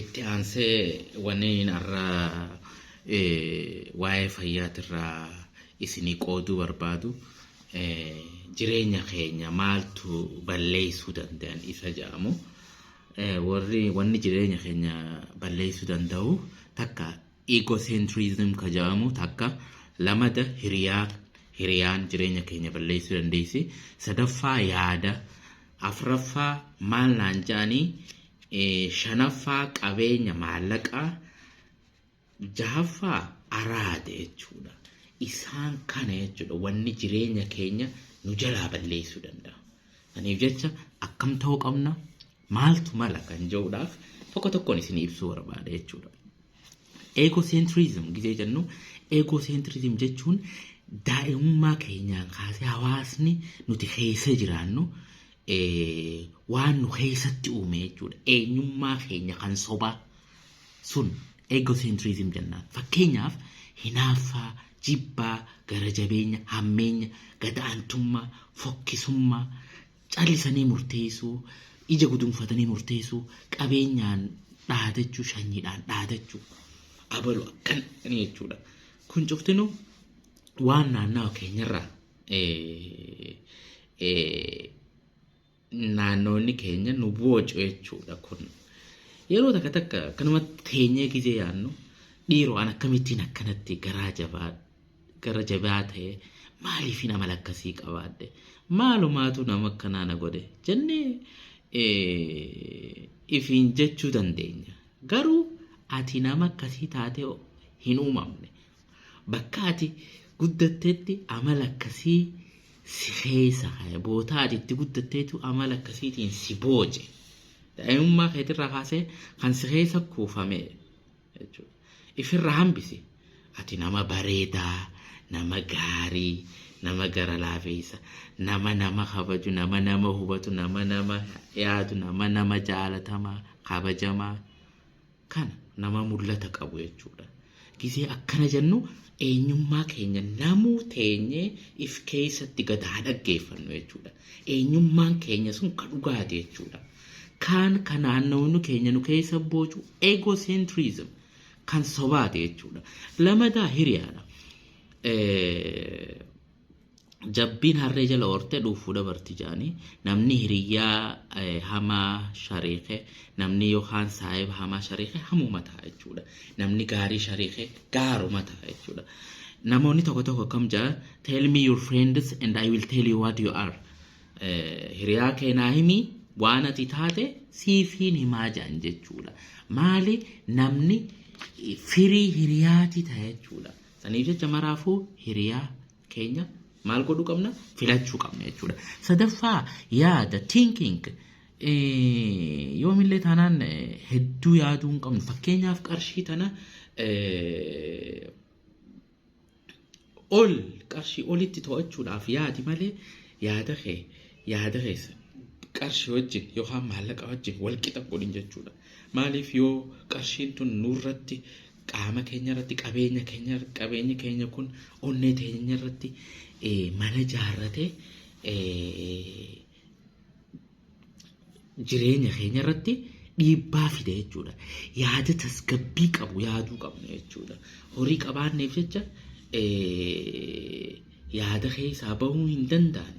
Itti aansee wanni har'a waa'ee fayyaatirraa isinii qooduu barbaadu jireenya keenya maaltu balleessuu danda'an isa jedhamu. Warri wanni jireenya keenya balleessuu danda'u takka Ecocentrism ka ja'amu takka lamada hiriyaa hiriyaan jireenya keenya balleessuu dandeessi. Sadaffaa yaada. Afraffaa maal naan ja'anii eh, shanaffaa qabeenya maallaqaa jahaffaa araada jechuudha. Isaan kana jechuudha wanni jireenya keenya nu jalaa balleessuu danda'a. Saniif jecha akkam ta'uu qabna? maaltu mala kan jedhuudhaaf tokko tokkoon isinii ibsuu barbaada jechuudha. Eegoseentriizim gizee jennu eegoseentriizim jechuun daa'imummaa keenyaan kaasee hawaasni nuti keessa jiraannu eh, waan nu keessatti uume jechuudha. Eenyummaa keenya kan sobaa sun eegoseentriizim jennaan. Fakkeenyaaf hinaaffaa, jibbaa, gara jabeenya, hammeenya, gad-aantummaa, fokkisummaa, Callisanii murteessuu, ija gudunfatanii murteessuu, qabeenyaan dhaadachuu, shanyiidhaan dhaadachuu, abalu akkan jechuudha. Kun cuftinuu waan naannawa keenyarraa naannoonni keenya nu boocu jechuudha kun. Yeroo takka takka kanumatti teenyee gizee yaannu dhiiroo an akkamittiin akkanatti garaa jabaa gara jabaa ta'e maaliifin amala akkasii qabaadhe maalumaatu nama akkanaa na godhe jennee ifiin jechuu dandeenya garuu ati nama akkasii taatee hin uumamne bakka ati guddatteetti amala akkasii si keessa ka'e bootaa ati itti guddatteetu amala akkasiitiin si booje daa'imummaa keetirraa kaasee kan si keessa kuufamee jechuudha. Ifirra hambisi. Ati nama bareedaa, nama gaarii, nama gara laafeessa, nama nama kabaju, nama nama hubatu, nama nama yaadu, nama nama jaalatamaa, kabajamaa. Kana nama mul'ata qabu jechuudha. Gisee akkana jennu eenyummaa keenya namuu teenyee if keessatti gad haa dhaggeeffannu jechuudha. Eenyummaan keenya sun ka dhugaati jechuudha. Kaan ka naannawni keenya nu keessa boocu egocentrism kan sobaati jechuudha. Lamadaa hiriyaadha. Jabbiin harree jala hortee dhuufuu dabarti jaanii namni hiriyyaa hamaa shariike namni yookaan saahiba hamaa shariike hamuma ta'a jechuudha. Namni gaarii shariike gaaruma ta'a jechuudha. Namoonni tokko tokko akkam jedha tell me your friends and I will tell you what you are. hiriyaa kee naa himi waan ati taate siifiin himaa jedhan jechuudha. Maali namni firii hiriyaati ta'a jechuudha. Saniif jecha maraafuu hiriyaa keenya maal godhuu qabna filachuu qabna jechuudha. Sadaffaa yaada thinking yoomillee taanaan hedduu yaaduu hin qabnu fakkeenyaaf qarshii tana ol qarshii olitti to'achuudhaaf yaadi malee yaada kee yaada keessa qarshii wajjin yookaan maallaqa wajjin wal qixa godhin jechuudha. Maaliif yoo qarshiin tun nurratti qaama keenya irratti qabeenya keenya qabeenyi keenya kun onnee teenya irratti mana jaarrate jireenya keenya irratti dhiibbaa fida jechuudha. Yaada tasgabbii qabu yaaduu qabna jechuudha. Horii qabaanneef jecha yaada keessaa bahuu hin danda'an.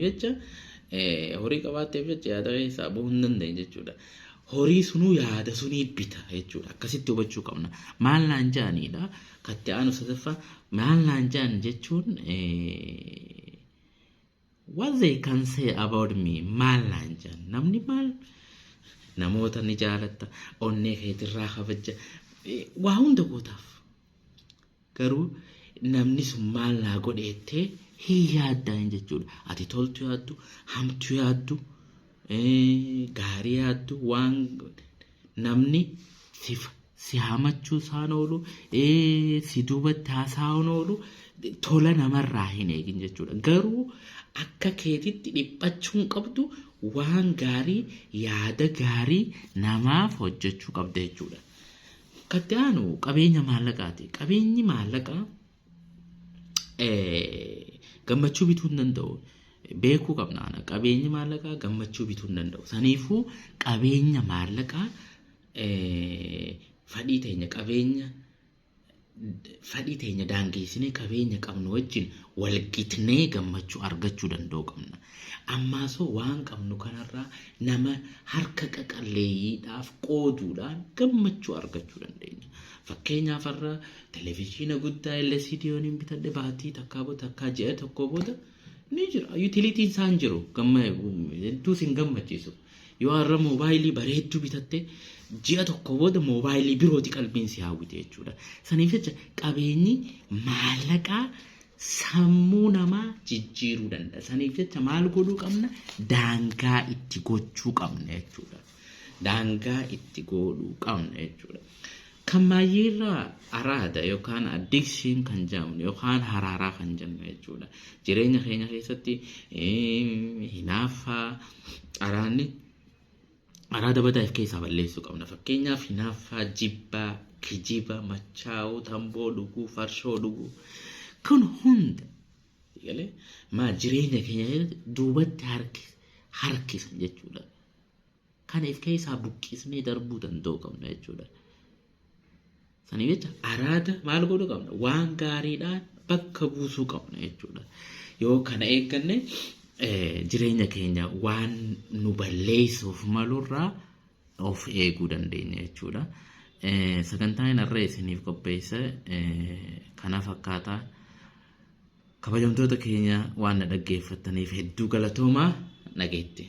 Jecha horii qabaatteef jecha yaada keessaa bahuu hin danda'an jechuudha. Horii sunuu yaada sunii bita jechuudha. Akkasitti hubachuu qabna. Maal naan ja'aniidha? Katti aanu sadaffaa maal naan ja'an jechuun What they can say about me maal naan jedhan namni maal namoota ni jaalatta onnee keetirraa kabajja eh, waa hunda gootaaf garuu namni sun maal naa godhe jettee hin yaaddaan jechuudha ati toltu yaaddu hamtu yaaddu eh, gaarii yaaddu waan namni sif si hamachuu isaan oolu ee, si duubatti haasa'uun oolu tola namarraa hin eegin jechuudha. Garuu akka keetitti dhiphachuu hin qabdu waan gaarii yaada gaarii namaaf hojjechuu qabda jechuudha. Kan itti aanu qabeenya maallaqaati. Qabeenyi maallaqaa gammachuu bituu hin danda'u. Beekuu qabna ana qabeenyi maallaqaa gammachuu bituu hin danda'u. Saniifuu qabeenya maallaqaa fadhii teenya qabeenya fadhii teenya daangeessinee qabeenya qabnu wajjin walgitnee gammachuu argachuu danda'u qabna. Ammaasoo waan qabnu kanarraa nama harka qaqalleeyyiidhaaf qooduudhaan gammachuu argachuu dandeenya. Fakkeenyaaf har'a Televijiina guddaa LCD yooniin bitadhe baatii takkaa booda takkaa ji'a tokkoo booda ni jira. Yuutiliitiin isaa hin jiru. Gamma hedduu sin gammachiisu. Yoo har'a moobaayilii bareedduu bitatte ji'a tokko booda moobaayilii birooti qalbiin si hawwite jechuudha. Saniif jecha qabeenyi maallaqaa sammuu namaa jijjiiruu danda'a. Saniif jecha maal godhuu qabna? Daangaa itti gochuu qabna jechuudha. Daangaa itti godhuu qabna jechuudha. Kan maayyiirraa araada yookaan addiction kan jedhamnu yookaan haraaraa kan jennu jechuudha. Jireenya keenya keessatti hinaaffaa araanni araada badaa if keessaa balleessuu qabna. Fakkeenyaaf hinaaffaa jibbaa, kijiba, machaa'uu, tamboo dhuguu, farshoo dhuguu kun hunda galee maa jireenya keenya keessatti duubatti harki harkisan jechuudha. kana if keessaa buqqisnee darbuu danda'uu qabna jechuudha. Sanii jecha araada maal godhuu qabna? Waan gaariidhaan bakka buusuu qabna jechuudha. Yoo kana eegganne jireenya keenya waan nu balleessuuf malurraa of eeguu dandeenya jechuudha. Sagantaan har'a isiniif qopheesse kana fakkaata. Kabajamtoota keenya waan na dhaggeeffattaniif hedduu galatoomaa nageetti.